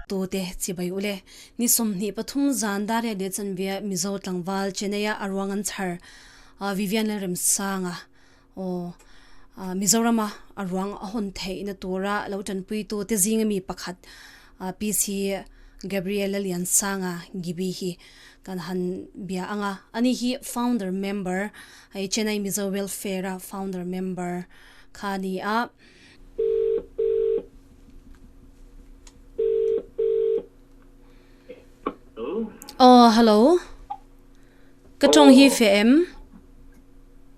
tute chi bai ule ni sawmhnih pathum zan dar leh leh chanbia mizo tlangval chennai a a ruang an chhar vivian lalremsanga Mizorama a ruang a hawn theihna tura lo tanpuitu te zinga mi pakhat PC Gabriela Liansanga Gibi hi kan han bia ang a, a ni hi founder member hei Chennai Mizo Welfare-a founder member kha a ni a. Aww hello ka tawng hi feh em?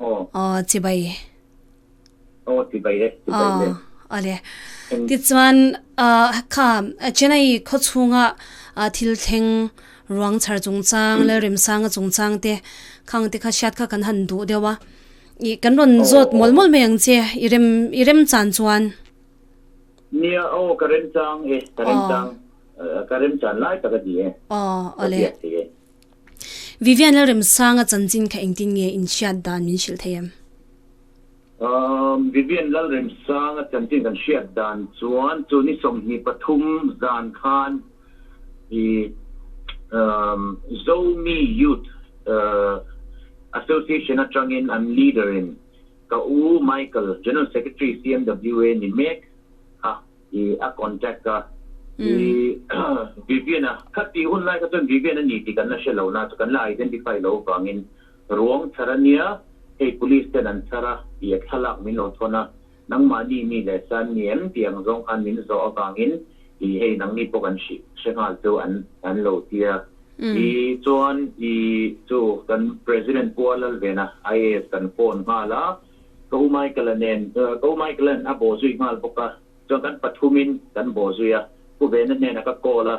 Aw. Aw chibai. Aw chibai e, chibai le. Aw a le. Tichuan kha Chennai khaw chhunga thil thleng ruang chhar chungchang leh remsanga chungchang te kha ang te kha hriat kha kan han duh deuh a, ih kan rawn zawt mawl mawl mai ang che, i rem i rem chan chuan. Nia aw ka remchang e, ka remchang, ka remchan lai tak a ni e, ka biak thei e. Vivian leh Remsanga chanchin kha engtin nge inhriat dan min hrilh thei em? Umm, Vivian lal Remsanga chanchin kan hriat dan chuan chu ni sawmhnih pathum zan khan i umm Zomi Youth uh Association atangin an leader in ka u Michael, General Secretary CMWA ni mek kha I a contact a I Vivian a kha tih hun lai kha chuan Vivian a ni tih kan la hre lo na chu kan la identify lo vangin Ruangchhar a nia hei police ten an chhar a I a thlalak min lo thawn a nangmah ni mi leh san ni em ti ang zawng khan min zawh avangin I hei nang ni pawh kan hrih hre nghal chu an an lo ti a I chuan I chu kan president Pualal ven a IAS kan phone nghal a. Ka u Michael-a nen, uh, ka u Michael-a'n a baw zui nghal bawk a, chuan kan pathumin kan baw zui a, Pu Vena hnenah ka call a,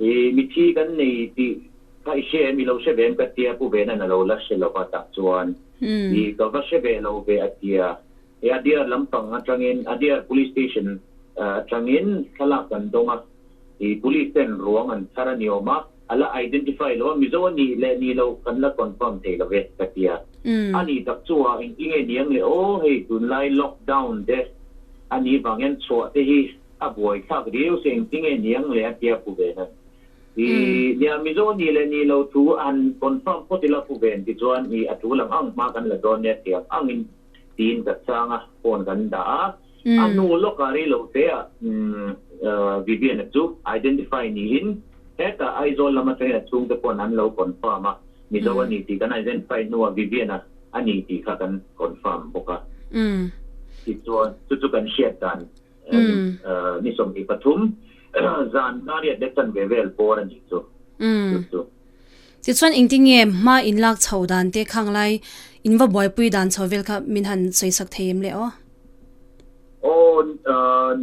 I mithi kan nei tih kha i hre em, i lo hre ve em ka tia, Pu Vena-a'n a lo la hre lo a tah chuan, I ka va hre ve lo ve a tia, I a dear lampang atangin, a dear police station atangin thlalak kan dawng a, I police ten ruang an thar a ni awm a, a la identify lo a, Mizo a nih leh ni lo kan la confirm thei love ka ti a, a nih tak chuah engtin nge ni ang le aw hei tunlai lockdown te a nih vang hian chhuah te hi a buai thlak riau se engtin nge ni ang le a tia pu ve nan i nia Mizo a nih leh ni lo thu a han confirm phawt ila pu ve an ti chuan i a thu lang ang hma kan la dawn nia thiam angin tiin ka chang a phone kan dah a. A hnu lawkah reilo têa Vivienne-a chu identify niin hetah Aizawl lama ṭahin a chhungte pawhin an lo confirm a, Mizo a ni tih kan identify hnua Vivienne-a a ni tih kha kan confirm bawk a. Tichuan, chu chu kan hriat dan ni sawmhnih pathum zan Dariat leh Chanve vel bawr a nih chu chu chu. Tichuan engti nge hma in lak chho dan te khang lai in va buaipui dan chho vel kha min han sawi sak thei em le aw? Aw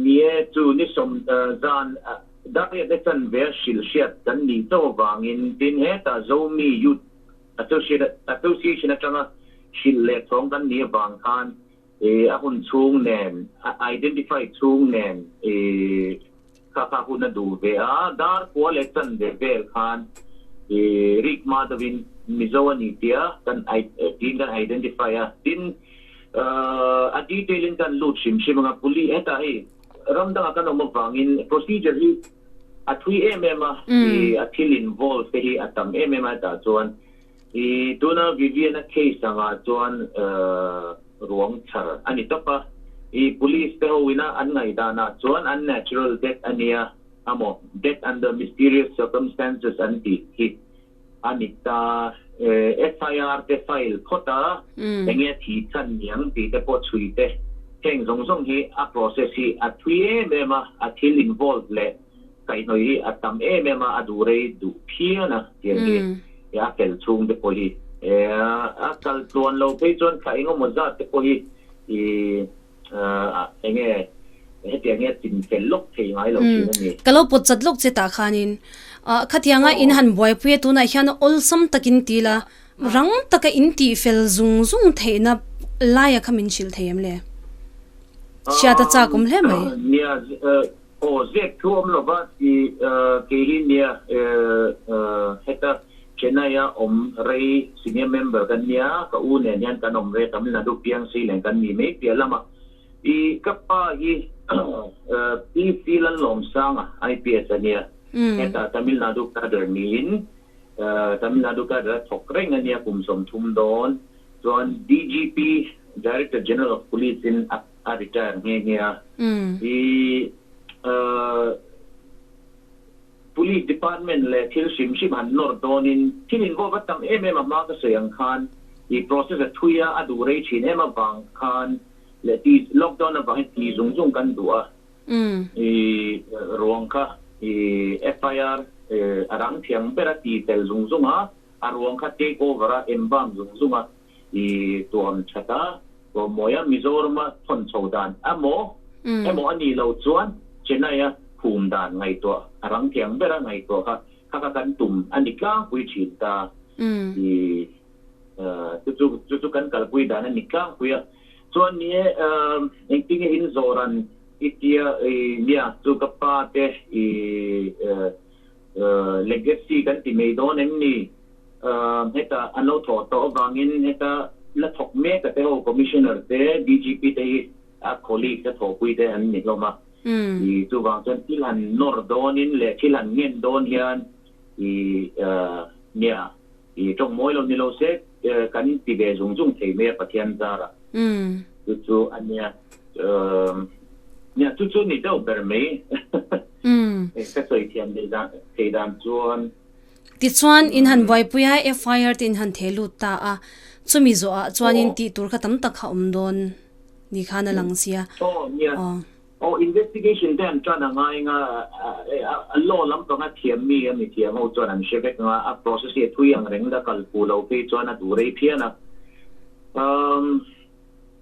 ni e, chu ni sawm zan Dariat e chan ber hrilh hriat kan nih chaw avangin tin hetah Zomi Youth Association atanga hrilh leh thawng kan nih avang khan I a hun chhung nen, a identify chhung nen i kha kha hun a duh ve a. Dar kua leh chanve vel khan i rik hma deuhin Mizo a ni tia kan tiin kan identify a. Tin a detail in kan lut hrim hrim ang a. Puli hetah hi ram dangah kan awm avangin procedure hi a thui em em a. I a thil involve te hi a tam em em a hetah chuan. I tuna Vivian-a case angah chuan ruang chhar a ni tawp a. I police te ho ina an ngaihdanah chuan unnatural death a nia a maw death under mysterious circumstances an tih hi a ni ta. FIR te file phawt a, eng nge thi chhan niang tih te pawh chhui te heng zawng zawng hi a process hi a thui em em a, a thil involve leh Kaihhnawih hi a tam em em a, a duh rei duh phian a tiang hi he a fel chhung te pawh hi a kal tluan lo phei chuan thla engemaw zat te pawh hi eng nge hetiang nge a chin fel lawk thei ngai lo thin a ni. Ka lo pawt chat lawk che tah khanin khatianga in han buaipuii a tunah hian awlsam takin ti ila rang taka in tih fel zung zung theihna laia kha min hrilh thei em le? Hriata chak awm hle mai. Aw zek thu awm lo va ti keilin nia heta Chennai a awm rei senior member kan nia ka u nen hian kan awm rei Tamil Nadu piang sei leng kan ni mai piah lam a i ka pa hi PC Lalawmsanga IPS a nia heta Tamil Nadu cadre ni in Tamil Nadu cadre a thawk reng a nia kum sawm thum dawn chuan DGP Director General of Police in a a retire nghe nghe a. I Police Department leh thil hrim hrim han nawr dawnin thil involve a tam em em a hma ka sawi ang khan i process a thui a, a duh rei thin em avang khan leh ti lockdown avangin ti zung zung kan duh a. I ruang kha i FIR a rang thiang ber a, ti fel zung zung a, a ruang kha take over a, embalm zung zung a. i tuam that a, tuam mawi a, Mizorama thawn chho dan emaw emaw a nih loh chuan Chennai-a khum dan ngaihtuah a rang thiang bera ngaihtuah kha kha kha kan tum a ni tlangpui thin ta i chu chu chu chu kan kalpui dan a ni tlangpui a, chuan ni e engtinge in zawh ran i tia i nia chu ka pa te i Legacy kan ti mai dawn em ni? Heta an lo thawh tawh avangin heta la thawk mek a te ho Commissioner te, DGP te hi a colleagues a thawhpui te an ni hlawm a. I chuvang chuan thil han nawr dawnin leh thil han ngen dawn hian i nia I tawk mawi lo ni lo se, kan inti ve zung zung thei mai a Pathian zar ah. Chu chu a nia. Nia chu chu ni deuh ber mai. Ka sawi thiam leh dan thei dan chuan. Tichuan in han buaipui a, FIR te in han theh lut ta a. Chumi zawh ah chuan in tih tur kha tam tak kha awm dawn ni khan a lang sia. Aw nia. Aw investigation te an tan a ngai nga a law lam panga thiam mi a mithiam ho chuan an hre vek nga a process hi a thui ang reng la kal pu lo phei chuan a duh rei phian a umm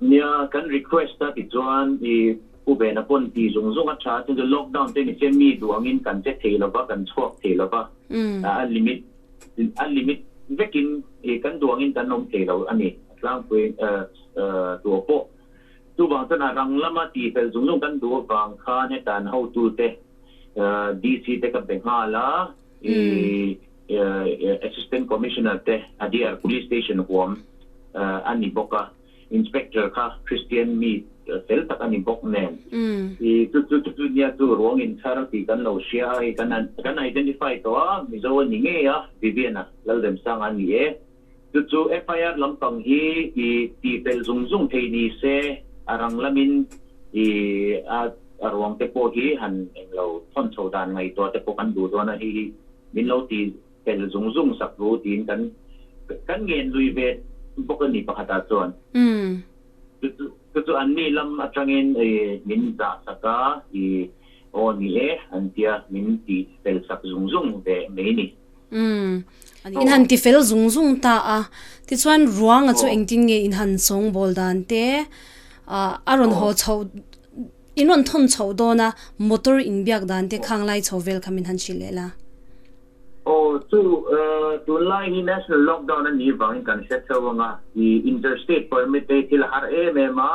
nia kan request a tichuan i pu vena pawn ti zung zung a tha chungte lockdown te ni se mi duh angin kan che thei lova kan chhuak thei lova a limit a limit vekin i kan duh angin kan awm thei lo a ni a tlangpui duh pawh Chuvang chuan a rang lama tihfel zung zung kan duh avang khan hetan hotute DC te ka be nghal a, i Assistant Commissioner te a DR Police Station huam a ni bawk a, Inspector kha Christian mi fel tak a ni bawk nen. I chu chu chu nia chu Ruangin thar tih kan lo hria a, i kan identify tawh a, Mizo a ni ngei a, Vivian-a, Lalremsanga a ni e. Chu chu FIR lampang hi i tihfel zung zung thei ni se a rang lamin i a a ruang te pawh hi han eng lo thawn chho dan ngaihtuah te pawh kan duh dawn a hei hi min lo ti fel zung zung sak thu tiin kan kan ngen lui ve bawk a ni pakhatah chuan chu chu chu chu an ni lam atangin i min zah sak a i aw ni e an tia min tih fel sak zung zung ve mai ni. Umm in han ti fel zung zung ta a tichuan ruanga chu engtin nge in han sawng bawl dan te ah a rawn haw chho in rawn thawn chho dawn a motor in biak dan te khang lai chho vel kha min han hrilh leh la. Aw chu tunlai hi national lockdown a nih vangin kan hre chho ang a i interstate permit te hi thil a har em em a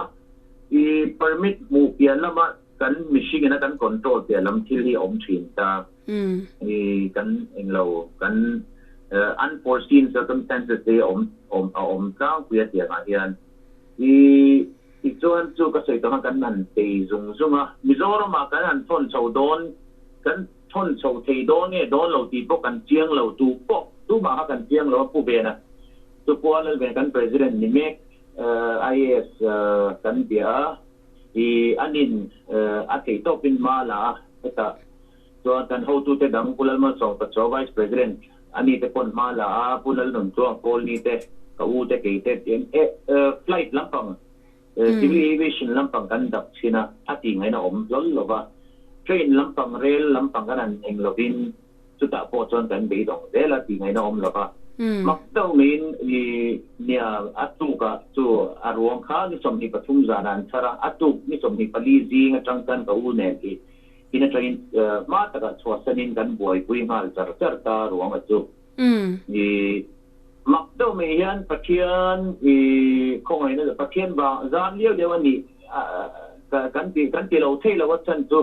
i permit hmuh piah lamah Kan mihring in a kan control piah lam thil hi a awm thin ta. I kan eng lo kan unforeseen circumstances te hi a awm a awm tlangpui a tiang ah hian i ti chuan chu ka sawi tawh han kan han tei zung zung a. Mizoram ah kan han thawn chho dawn kan thawn chho thei dawn nge dawn lo tih pawh kan chiang lo tu pawh tu mah kha kan chiang lo a pu ve na chu Pualal ven kan president ni mek IAS kan bia a. I anin a theih tawp in ma la a, heta chuan kan hotute dang Pu Lalmalsawngta chaw Vice President ani te pawn hma la a, Pu Lalnunchuang Pawlni te, ka u te kei te em e flight lampang civil aviation lampang kan dap chhin a, a tih ngahin a awm hlawl lova, train lampang, rail lampang kan han eng lovin. chutah pawh chuan kan beidawng zel a, tih ngaihna awm lova, mak deuh miin i nia a tukah chu a ruang kha ni sawmhnih pathum zanah an chhar a, a tuk ni sawmhnih pali zing atang chuan ka u nen hi in atangin hma takah chhuahsanin kan buaipui nghal char char ta ruanga chu i mak deuh mai hian Pathian i khawngaihna Pathian vang zan lio lio a nih kan ti kan ti lo thei lova chhan chu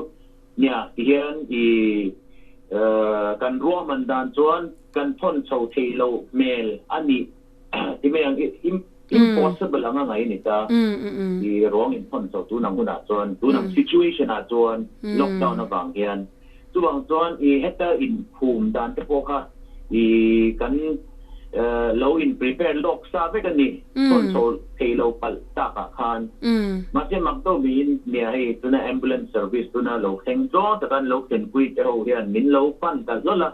Nia tihian i kan ruahman dan chuan kan phawn chho thei lo hmel a ni ti mai ang. Impossible anga ngai a ni ta. I ruang in phawn chho tun ang hunah chuan, tun ang situation ah chuan lockdown avang hian. Chuvang chuan i heta inkhum dan te pawh kha i kan. lo in prepare lawk sa vek a ni chhawn chho thei lo palh tak ah khan mahse mak deuh mi in mi ah hei tuna ambulance service tuna lo thleng chuang tak a an lo thlen pui te ho hian min lo pan kalh lawlh a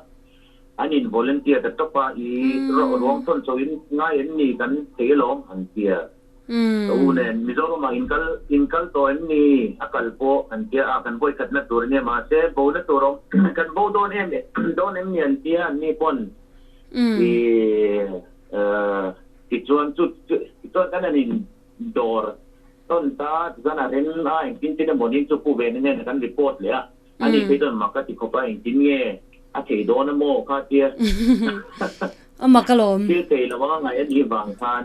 an in volunteer ta tawp a ih ruang chhawn chho in ngai an ni kan thei alawm an ti a. Ka u nen, Mizoram ah inkal inkal tawh em ni? A kal pawh kan tia a, kan vawikhatna tur ania mahse bona tur awm kan bo dawn em dawn em ni an tia an ni pawn ti tichuan chu tichuan khan an in dawr tawn ta tichuan a rem a engtin chin emaw ni chu pu Vena hnena kan report leh a a ni phei dawn mah ka ti khawp a engtin nge a thei dawn a maw kha tia a maka lawm thil thei lo anga ngai a nih vang khan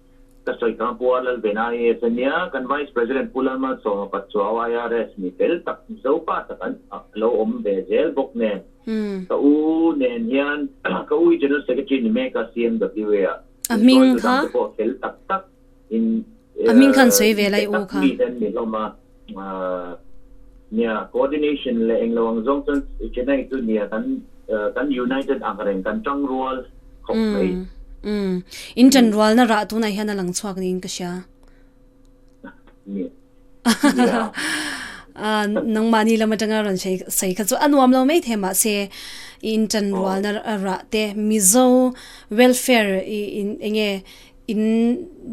Ka sawi kang pu a lal ve na IS a nia, kan Vice President Pu Lalmal Sawmawpat chuau IRS mi fel tak Zopa tak an lo awm ve zel bawk nen ka u nen hian ka u i General Secretary ni mek a CMWA ah in sawi tu dang te pawh fel tak tak in a hming khan sawi ve lai u kha. Nia, coordination leh englo ang zawng chuan Chennai chu nia kan kan united ang reng, kan tang rual khawp mai. Umm, in tan rualna rah tunah hian a lang chhuak niin ka hria. Nia. Aaa, nangmahni lam atanga rawn sawi sawi kha chu a nuam lo maithei mahse, i in tan rualna rah te, Mizo welfare i in enge In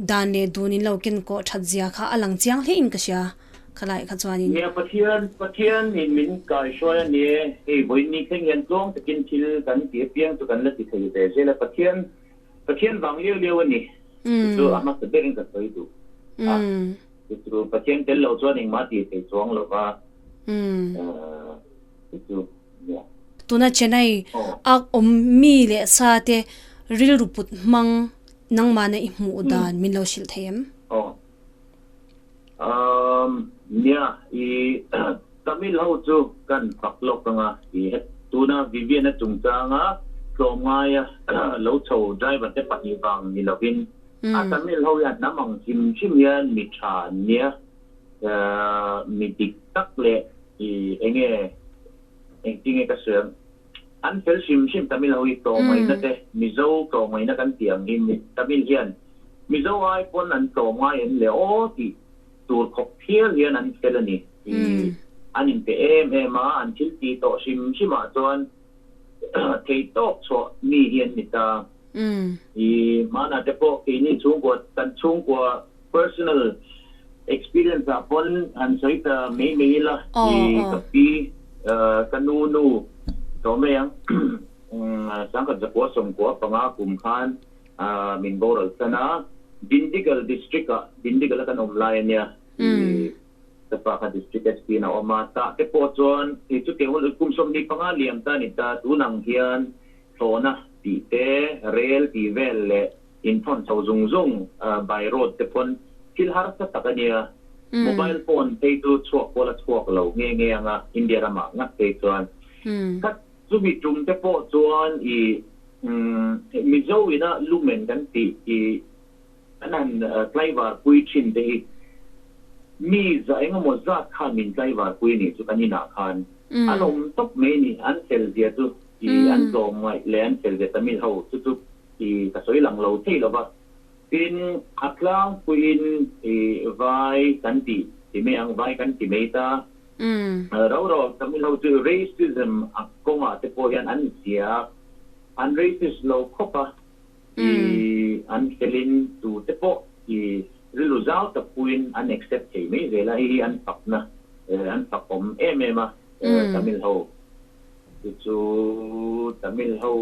dan leh dun in lo ken kawh that zia kha a lang chiang hlein ka hria khalaih kha chuan in. Nia Pathian, Pathian in min kaihruai a ni e, hei vawiin ni thleng hian tluang takin thil kan ti apiang chu kan la ti thei ve zel a, Pathian, Pathian vang lio lio a ni, chu chu a hmasa berin ka sawi duh a, chu chu Pathian tel lo chuan engmah ti thei chuang lova. te chu nia. Tuna Chennai a awm mi leh sa te rilru put hmang nangmahna i hmuh dan min lo hrilh thei em? Aw. Umm, nia, i Tamil ho chu ka han fak lawk ang a, i he tuna Vivian-a chungchanga tlawm ngaia lo chho driver te pahnih vang ni lovin a Tamil ho hian hnam ang hrim hrim hian mi tha an nia, mi dik tak leh. I enge engti nge ka sual? An fel hrim hrim Tamil ho hi tlawmngaihna te Mizo tlawmngaihna kan ti ang hi Tamil hian Mizo ai pawn an tlawm ngai em le aw tih tur khawp phial hian an fel a ni. I an inpe em em a, an thilti tawh hrim hrim ah chuan. thei tawk chhuah mi hi an ni ta. I hmanah te pawh keini chhungkua, kan chhungkua personal experience ah pawn han sawi ta mai mai ila, i ka pi, ka nu nu tlawm rei ang Sangkhat Zakua Sawmkua panga kum khan min boral san a, Dindigul district ah, Dindigul a kan awm lai a nia, i Sapa kha District Espiin a awm a, tah te pawh chuan kei chu kei hun kum sawm ni panga liam ta a ni ta, tun ang hian thlawhna tih te, rel tih vel leh in thawn chho zung zung by road te paw'n thil harsa tak a nia, mobile phone phei chu chhuak kual a chhuak lo nghe nghe anga India ramah ngat phei chuan khat chumi tum te pawh chuan i Mizoin a lumen kan tih i Kan han tlaivar pui thin te hi mi za engemaw zat khan min tlaivar pui anih chu kan inah khan a lawm tawp mai a ni. An fel zia chu i an tlawm ngaih leh an fel zia Tamil ho chu chu i ka sawi lang lo theih lova. Tin, a tlangpuiin i vai kan ti ti mai ang, vai kan ti mai ta. Rau rau ang Tamil ho chu racism kawngah te pawh hian an ziak, an racist lo khawp a. i Mm. an felin tute pawh i rilru zau tak puin an accept thei mai zel a, hei hi an fakna eh an fak awm em em a eh Mm. Tamil ho te chu Tamil ho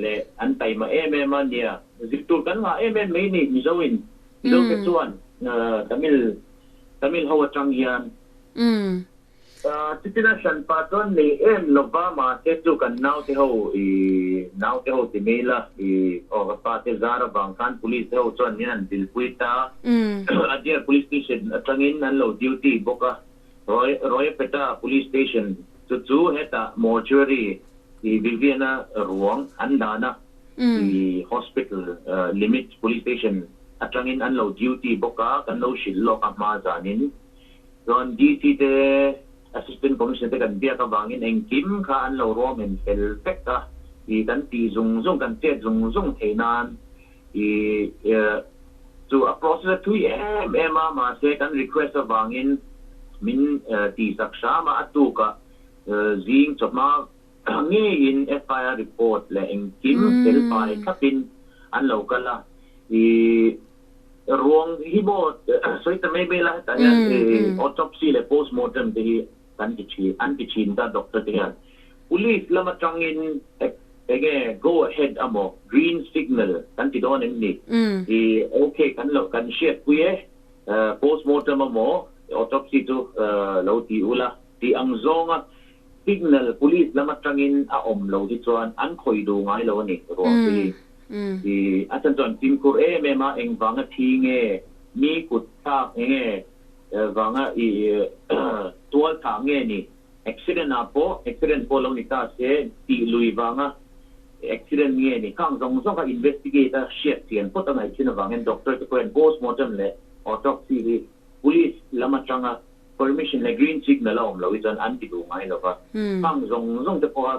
leh an taima em em a nia zir tur kan ngah em em mai a ni Mizo in, Mizo te Mm. chuan eh Tamil Tamil ho atang hian. Mm. Chutihlai hranpa chuan ni em lova mahse chu kan naute ho i naute ho ti mai la i aw ka pa te zar avang khan police te ho chuan min an zilpui ta a dear police station atangin an lo duty bawk a roy royapeta police station chu chu heta mortuary i biabiana ruang an dan a i hospital limit police station atangin an lo duty bawk a kan lo hrilh lawk a hma zanin. Chuan DC te, Assistant Commissioner te kan biak avangin engkim kha an lo ruam en fel vek a, ih kan tih zung zung, kan chet zung zung thei nan ih chu a process a thui em em a, mahse kan request avangin min tihsak hram a, a tukah zing chawp a ngeiin FIR report leh engkim fel fai thlapin an lo kal a, ih. Ruang hi bo sawi ta mai mai la hetah hian autopsy leh post mortem te hi kan ti thin an ti thin ta doctor te hian police lam atangin enge go ahead a maw green signal kan ti dawn em ni i ok kan lo kan hriat pui e post mortem a maw autopsy chu lo ti ula ti ang zonga signal police lam atangin a awm lo hi chuan an khawih duh ngai lo a ni ruang te hi I Asan chuan Kim khur em em a eng vanga thi nge mi kut thlak enge vanga i tual thah nge ni accident ah pawh accident pawh lo ni ta se tih lui vanga accident nge ni khang zawng zawng kha investigate a hriat chian phawt a ngaihchin avangin doctor te pawh hian postmortem leh autopsy hi police lam atanga Permission leh green signal a awm lo hi chuan an ti duh ngai lova, hmang zawng zawng te pawha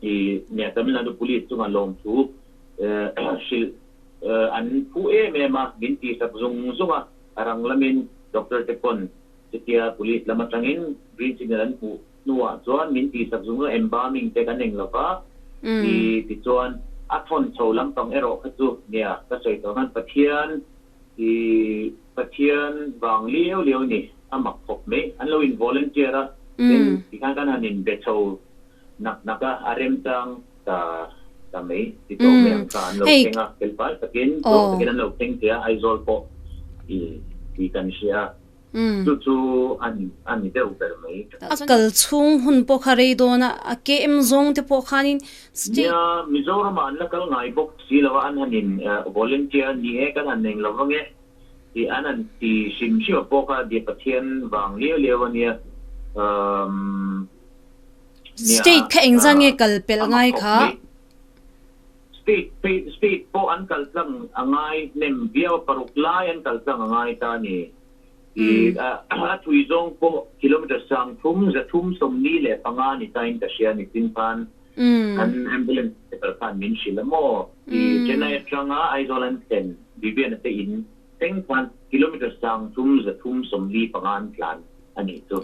i nia Tamil Nadu Police chunga lawmthu hrilh an phu em em a, min tihsak zung zung a, a rang lamin Doctor te pawn chutia Police lam atangin green signal an hmuh hnuah chuan min tihsak zung zung embalming te kan eng lova ti tichuan a thawn chho lampang erawh kha chu nia ka sawi tawh ngan Pathian I Pathian vang lio lio ni a mak khawp mai. An lo in volunteer a, tin ti khan kan han in be chho nak nak a, a remchang ta ta mai. Ti tawh mai ang kha an lo thleng a, fel fai takin, tlawh takin an lo thleng thei a, Aizawl pawh i tui kan hria. Chu chu a ni, a ni deuh ber mai. A kal chhung hun pawh kha rei dawn a, a ke em zawng te pawh khanin state. Nia, Mizoramah an la kal ngai bawk si lo a, an han in volunteer ni e, kan han eng lo vang e tih an han ti hrim hrim a pawh kha dia Pathian vang liau liau a nia. Umm. Nia a, a mak khawp mai. State kha engzah nge kal pelh ngai kha Speed, speed, speed pawh an kal tlang a ngai hnem viau a paruk lai an kal tlang a ngai ta ni. I a thui zawng pawh kilometre sang thum za thum sawmli leh panga ni tain ka hria ni sin khan kan ambulance driver khan min hrilh a maw i Chennai atanga Aizawl an thlen Viviana te in seng khan kilometre sang thum za thum sawmli panga an tlan a nih chu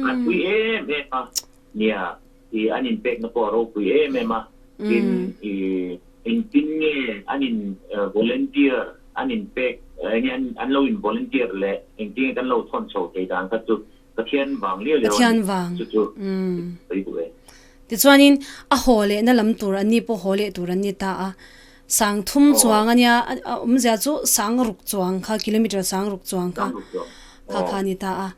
a thui em em a nia. I an in pekna pawh a ropui em em a, tin i engtin nge an in volunteer an in pek enge an lo in volunteer leh engtin nge kan lo thawn chho thei dan kha chu Pathian vang liau liau a ni chu chu sawi duh e. Tichuan in a haw lehna lam tur an ni pawh haw leh tur an ni ta a, Sang thum chuang a nia, a awm zia chu sang ruk chuang kha, kilometer sang ruk chuang kha kha kha a ni ta a.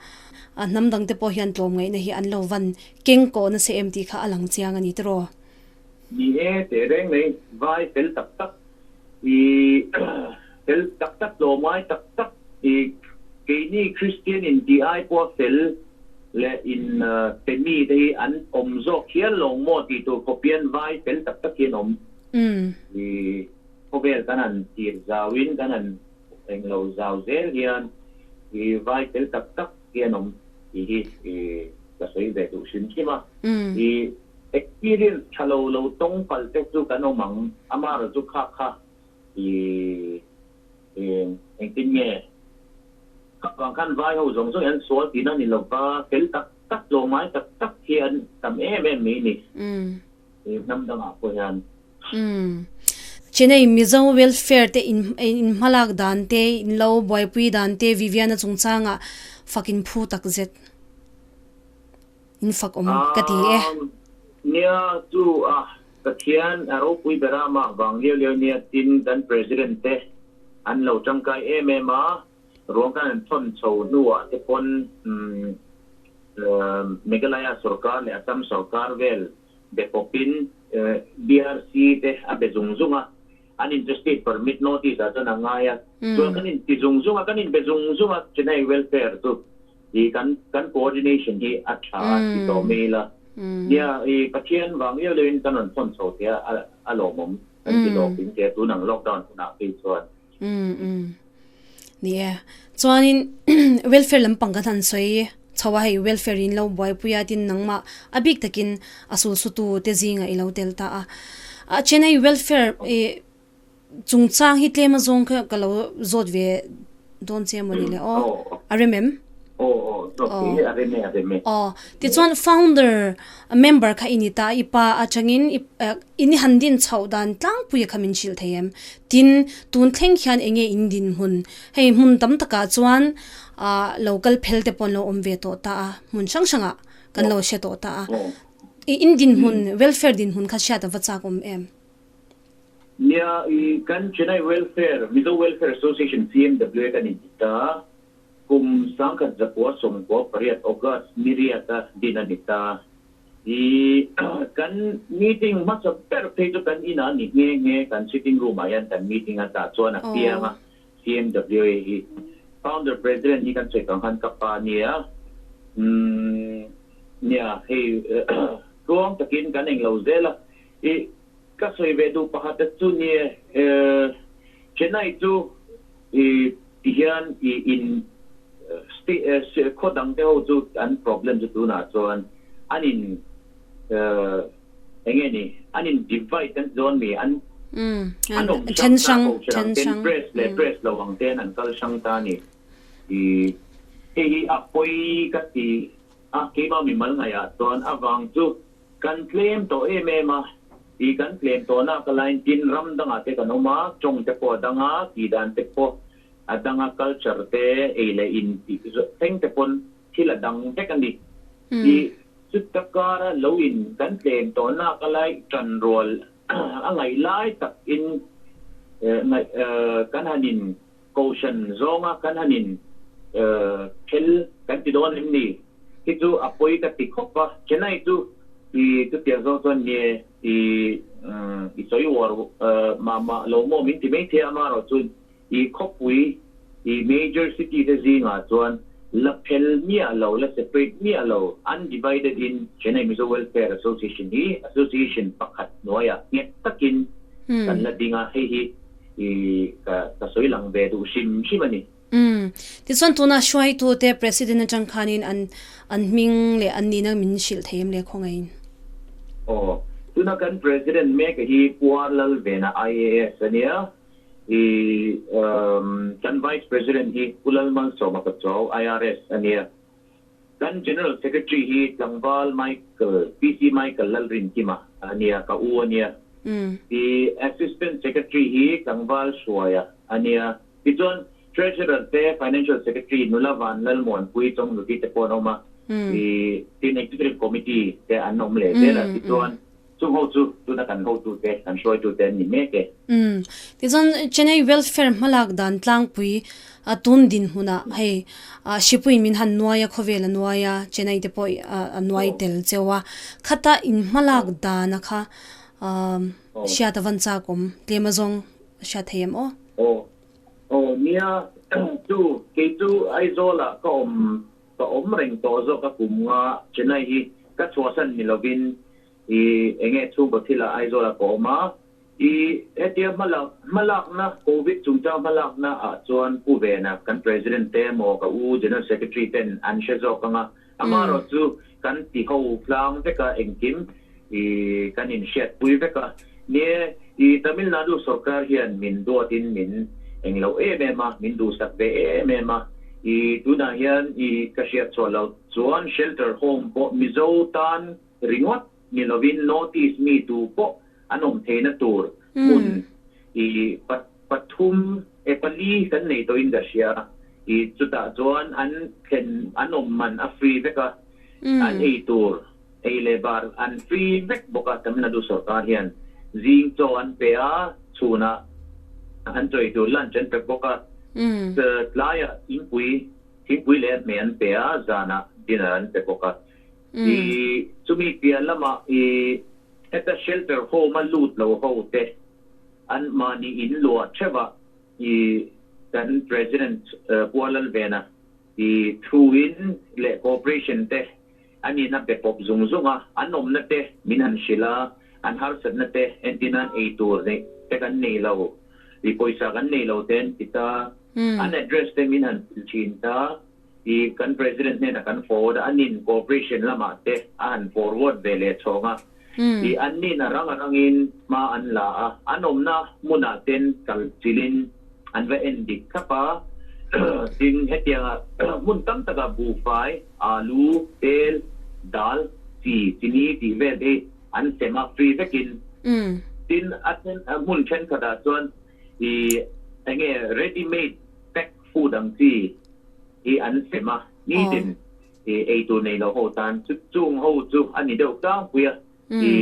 A hnam dang te pawh hian tlawm ngaihna hi an lo van keng kawh nasa em tih kha a lang chiang a ni tiraw. Ni e, teh reng mai, vai fel tak tak i fel tak tak, tlawmngai tak tak i keini Kristian intiai pawha fel leh in pe mi te hi an awm zawk hial lo maw tih tur khawpian vai fel tak tak hi an awm. Umm. I khawvel kan an tir zau in kan an hmuh eng lo zau zel hian i vai tel tak tak hi an awm tih hi i ka sawi ve duh hrim hrim a. Umm. I experience tha lo lo tawng palh te chu kan awm ang. Amara chu kha kha i i engtin nge khatuang khan vai ho zawng zawngin an sual tihna a ni lova tel tak tak tlawmai tak tak hi an tam em em mai a ni. Umm. He hnam dangah pawh hian. Umm. Chennai Mizo Welfare te in in hmalak dan te, in lo buaipui dan te Viviana chungchanga fakin phu tak zet. In fakawm ka ti e. Umm. Nia chu a Pathian a ropui bera mah vang liau liau nia tin kan President te an lo tangkai em em a. Ruang kan han thawn chho hnuah te pawn Meghalaya sawrkar leh Assam sawrkar vel be pawpin DRC te a be zung zung a, Uninterested Permit Notice ah chuan a ngai a. Chuan kan inti zung zung a, kan inbe zung zung a Chinai welfare chu i kan kan coordination hi a tha a ti tawh mai ila. Nia i Pathian vang viau viau in kan rawn thawn chho tia a lawmawm kan ti lawk in tia tunang lockdown hunah phei chuan. Umm umm ni e chuanin welfare lampang kan han sawi chho a hei welfare in lo buaipui a tin nangmah a bik takin a sulsutute zingah i lo tel ta a a then a i welfare i chungchang hi tlema zawng kha ka lo zawt ve dawn che maw ni le aw a rem em aw tichuan founder member kha i ni ta i pa atangin I ni han din chhoh dan tlangpuia kha min hrilh thei em? Tin, tun thleng hian eng nge in dinhmun? Hei hmun tam takah chuan lo kal phel te paw'n lo awm ve tawh ta a, hmun hrang hrangah kan lo hre tawh ta a. I in dinhmun, welfare dinhmun kha hriat a va chak awm em? Nia, i kan Chennai Welfare, Mizo Welfare Association, CMWA, kan intih ta a. Kum sangkhat zakua sawmkua pariat, August, ni riata din a ni ta a. I kan meeting hmasa ber phei chu kan inah ni nghe nghe kan sitting room ah hian kan meeting a ta chuan a kiang a CMWA hi founder president hi kan chhehkang khan ka pa nia umm nia hei tluang takin kan englo zel a i ka sawi ve duh pakhat te chu nia Chennai chu I tihian i in khaw dangte ho chu an problem chu tunah chuan an in eng nge ni an in divide kan ti dawn mi an an awm hrang ta ko che ang ten press leh press lo ang te an an kal hrang ta ni i hei hi a pawi ka ti a keimah mimal ngaihah chuan avang chu Kan tlem tawh em em a, i kan tlem tawhna ka lain tin ram dangah te kan awm a, tawngte pawh a dang a, tidan te pawh a dang a, culture te ei leh in tih zawh thleng te pawn thil a dang vek a ni. I chuta kara lo in kan tlem tawhna ka lai tan rual a ngaih lai tak in ngaih kan han in Kohhran zawnga kan han in phel kan ti dawn em ni? Hi chu a pawi ka ti khawp a, Chennai chu i chutiang zawng chuan nge i i sawi uar mah mah lo maw min ti maithei a, mah erawh chu i khawpui i major city te zingah chuan la phel miah lo, la separate miah lo undivided in Chennai Mizo Welfare Association hi association pakhat hnuaiah nghet takin kan la ding a, hei hi. i ka ka sawi lang ve duh hrim hrim a ni. Umm, tichuan tunah hruaitute President atang khanin an an hming leh an nihna min hrilh thei em le khawngaihin? Aw, tuna kan President mek a hi Puar Lal Vena IAS a nia, i umm kan Vice President hi Pu Lalmalsawma Pachaw IRS a nia, Kan General Secretary hi Tlangval Michael, PC Michael Lalrintima a nia, ka u a nia. I Assistant Secretary hi Tlangval Hruaia a nia. Tichuan Treasurer te, Financial Secretary Nulavan Lalmuanpui Chawngnuti te pawh an awm a. I tin Executive Committee te an awm leh zel a. Tichuan. Chu ho chu tuna kan hotute, kan hruaitute an ni mek e. Umm. Tichuan Chennai Welfare hmalak dan tlangpui a tun dinhmun ah hei Shipui min han nuai a, khawvel a nuai a, Chennai te pawh a nuai tel cheu a, khata in hmalak dana kha hriat a van chak awm tlem a zawng a hriat thei em aw? Aw. Aw nia. Chu kei chu Aizawl ah ka awm Ka awm reng tawh zawk a kum nga Chennai hi ka chhuahsan ni lovin i enge chhungkaw thila Aizawla ka awm a, i hetia hmalak hmalakna Covid chungchang hmalakna ah chuan pu vena kan President te emaw ka u General Secretary ten an hre zawk anga amarawh chu kan tiho tlang veka engkim. i kan in hriat pui vek a ni e, i Tamil Nadu sawrkar hian min duat in min eng lo em em a, min duhsak ve em em a, i tunah hian i ka hriat chhuah lo chuan shelter home pawh Mizo tan ringawt ni lovin notice mi tu pawh an awm theihna tur hmun i pathum e pali kan nei tawhin ka hria i chutah chuan an thlen an awm man a free vek a an ei tur ei leh bar an free vek bawk a Tamil Nadu sawrkar hian zing chaw an pe a chhunah an chawi tur lunch an pek bawk a tlaiah thingpui thingpui leh hme an pe a zanah dinner an pe bawk a. I chumi pian lama i heta shelter home a lut lo ho te an mahni in luah theuhva i kan President Pua Lalvena i thu in leh cooperation te an in a be pawp zung zung a an awmna te min han hrilh a an harsat na te entir nan ei tur neih te kan nei lo i pawisa kan nei lo te an ti ta an address te min han thil thin ta. I kan President hnena kan forward a, anin cooperation lamah te a han forward ve leh chhawng a, I an nin a rang a rangin hma an la a, an awmna hmunah ten kal chilhin an va en dik thlap a, tin hetianga hmun tam takah buhfai, alu, tel, dal, chi, chini tih vel te hi an sem a free vekin, tin a then hmun thenkhatah chuan I enge ready made pack, Pu dang chi hi an sem a, ni din i ei tur nei lo ho tan chu chung ho chu a ni deuh tlangpui a, i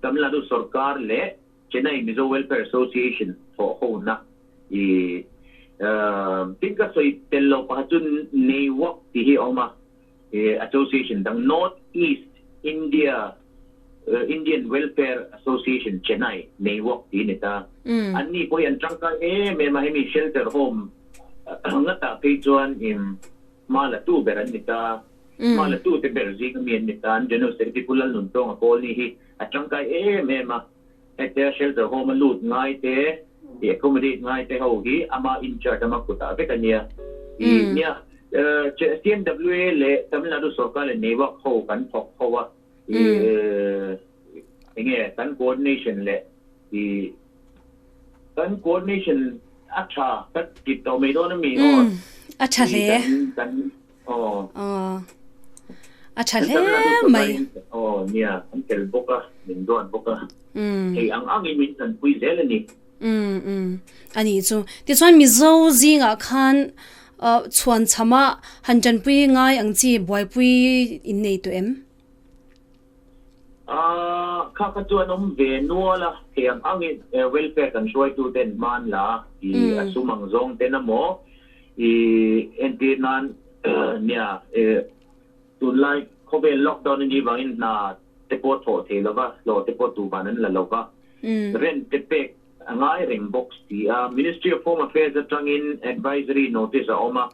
Tamil Nadu sawrkar leh Chennai Mizo Welfare Association thawh ho na i tin ka sawi tel lo pakhat chu nei vak tih hi a awm a. he association dang North East India Indian Welfare Association Chennai nei wak tih ni ta an ni pawh hi an tangkai em em a hemi shelter home ngatah phei chuan im hma la tu ber an ni ta hma la tu te ber zing ami an ni ta an general secretary pu lalnuntawnga kawl ni hi a tangkai em em a Hetiang shelter home a lut ngai te i accommodate ngai te ho hi ama incharge lama kutah vek a nia. I nia CMWA leh Tamil Nadu sorkar leh nei vak ho kan thawk ho a, i enge kan coordination leh i kan coordination a tha kan tip tawh mai dawn a mi aw. A tha hle. Aw. Aw. A tha hle mai. Kan tana duh tawh hian aw nia kan tel bawk a, min duan bawk a. Thei ang angin min than pui zel a ni. A nih chu. Tichuan Mizo zingah khan chhuan chhama han tanpui ngai ang chi buaipui innei tawh em? Aaa, kha kha chuan awm ve nual a, kei ang angin welfare kan hruaitu ten hman la i a sum ang zawng ten a maw i entir nan nia e tunlai khawvel lockdown a nih vangin hna te pawh thlawh thei lo va, thlawh te pawh tu van an la lo va, rent te pek a ngai reng bawk si a, Ministry of Home Affairs atangin advisory notice a awm a.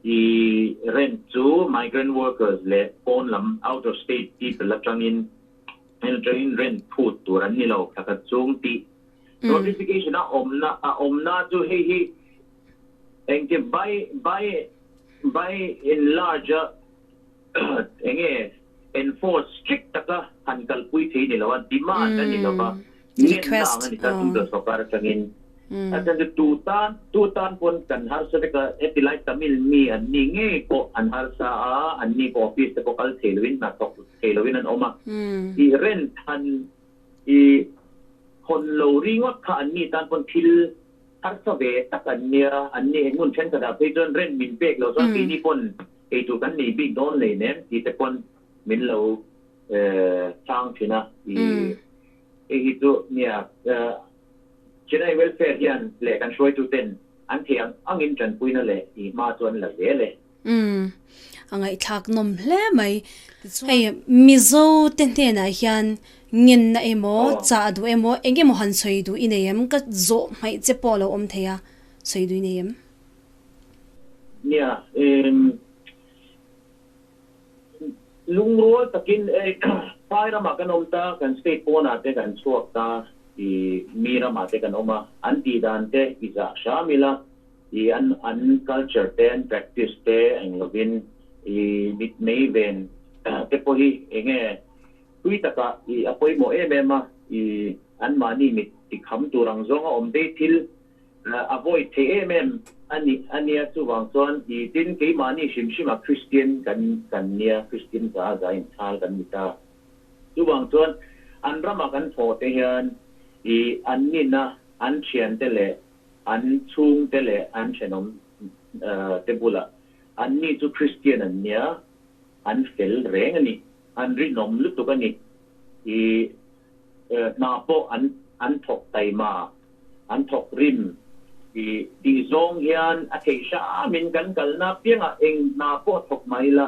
I rent chu migrant workers leh pawn lam, out of state people, atangin entering rent phut tur an ni lo hla khat chung ti notification a awmna a awmna chu hei hi engti by by by enlarge Eng nge enforce strict taka han kalpui thei ni lo a, demand a ni lo va, ngenna ang a ni ta Central Sawrkar atangin. A chen chu tu tan, tu tan pawn kan harsa vek a, heti lai Tamil mi an ni ngei pawh an harsa a, an ni pawh office te pawh kal thei lovin, hnathawk thei lovin an awm a. I rent han i hawn lo ringawt kha an ni tan pawn thil harsa ve tak an nia, an ni hmun thenkhatah phei chuan rent min pek lo chuan keini pawn Eitur kan nei bik dawn lei nem tih te pawn min lo sang thin a, hei hi chu nia General Welfare hian leh kan hruaitu ten an thei ang angin tanpui na leh i hma chu an la zel e. A ngaihthlak nawm hle mai. Hei Mizo te hnenah hian ngenna emaw, chah duh emaw eng emaw han sawi duh i nei em? Ka zawh hmaih che pawh a lo awm thei a, sawi duh i nei em? Nia, em, lungrual takin e pai rama kan awm ta, kan state pawnah te kan chhuak ta, i mi ramah te kan awm a, an tih dan te i zah hram ila, i an an culture te, an practice te eng lovin i mitmei ven te pawh hi eng nge hlui takah i a pawimawh em em a, i anmahni mit tikham tur ang zawng a awm daih thil, A vawi thei em em a nia chuvang chuan i tin keimahni hrim hrim ah Christian kan kan nia Christian za a za inchhal kan ni ta chuvang chuan an ram ah kan hmawh te hian i an nin a an thian te leh an chhung te leh an thenawm te bulah an ni chu Christian an nia an fel reng a ni an rinawm lutuk a ni i hna pawh an an thawk taima, an thawk rim ti tih zawng hian a thei hram in kan kal na piang ah eng hna pawh thawk mai la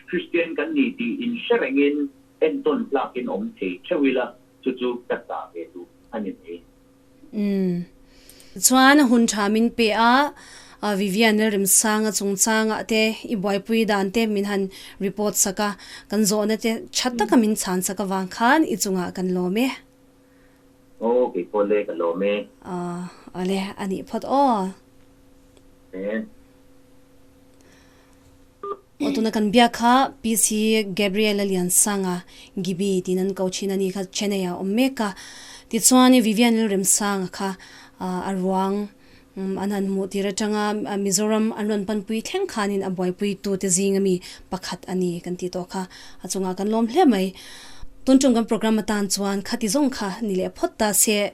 Kristian kan ni ti in hre reng in entawn hlak in awm thei theuh ila chu chu ka ta ve duh a ni mai. Chuan hun tha min pe a, Vivian leh Rimsanga chungchangah te i buaipui dan te min han report sak a, kan zawhna te tha taka min chhan sak avang khan i chungah kan lawm e. Aw, kei pawh le ka lawm e. Aw, awle, a nih phawt aw. Nen. Aw tuna kan biak kha PC Gabriela Liansanga, Gibi, tiin an ko thin a ni kha Chennai ah a awm mek a. Tichuan Vivian Rilremsanga kha a ruang a nan hmuh tir atanga Mizoram an rawn panpui thleng khanin a buaipuitute zinga mi pakhat a ni kan tih tawh kha a chungah kan lawm hle mai. Tun ṭum kan programme atan chuan khati zawng kha ni leh phawt ta se.